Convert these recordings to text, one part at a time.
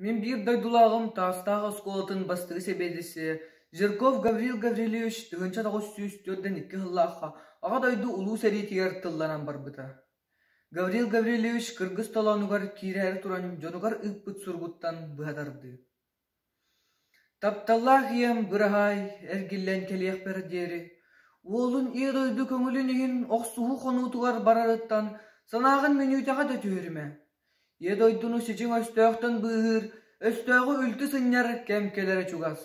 Мин биир дойдулааҕым Таастаах оскуолатын бастакы сэбиэдиссэйэ Жирков Гаврил Гаврильевич тыһыынча тоҕус сүүс түөртэн икки сыллаахха Аҕа дойду Улуу сэриитигэр тылланан барбыта. Гаврил Гаврильевич кыргыс толоонугар киирээри туран дьонугар ыыппыт суругуттан быһа тардыы Тапталлаах ийэм быраһаай, эргиллэн кэлиэхпэр диэри, уолун Ийэ дойду көҥүлүн иһин охсуһуу хонуутугар барарыттан санааҕын мүнүүтэҕэ да түһэримэ, ийэ дойдуну сичиҥ өстөөхтөн быыһыыр, өстөөҕү үлтү сынньар кэм кэлэрэ чугас.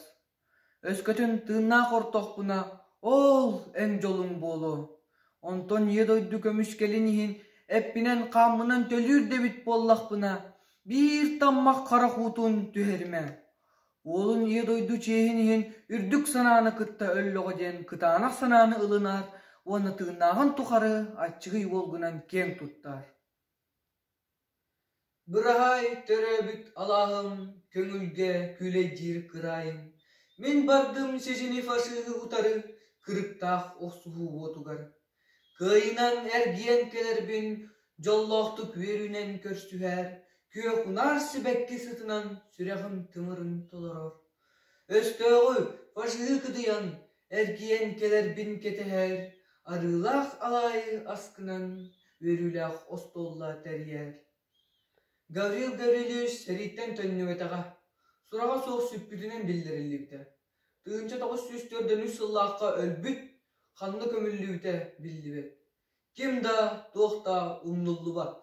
Өскөтүн тыыннаах ортохпуна «Оол, эн дьолуҥ буолуо» Онтон ийэ дойду көмүскэлин иһин эппинэн-хааммынан төлүүр да эбит буоллахпына, биир таммах харах уутун түһэримэ, уолун ийэ дойду чиэһин иһин үрдүк санааны кытта өллөҕө диэн кытаанах санааны ылынар уонна тыыннааҕын тухары аччыгый уолгунан киэҥ туттар Быраһаай, төрөөбүт алааһым, көҥүлгэ күлэйдиир кыраайым, мин бардым сизини фашиһы утары кырыктаах охсуһуу уотугар. Кыайынан эргийэн кэлэрбин дьоллоохтук үөрүүнэн көрсүһээр, күөх унаар сибэкки сытынан сүрэҕим тымырын толорор Өстөөҕү фашиһы кыдыйан, эргийэн кэлэрбин кэтэһэр, арыылаах алаайы аскынан үөрүүлээх остуолла тэрийэр. Гаврил Гаврильевич сэрииттэн төннүбэтэҕэ, сураҕа суох сүппүтүнэн биллэриллибитэ. Тыһыынча тоҕус сүүс төрдөнүс сыллаахха өлбүт, ханна көмүллүбүтэ биллибэт. Ким да, туох да умнуллубат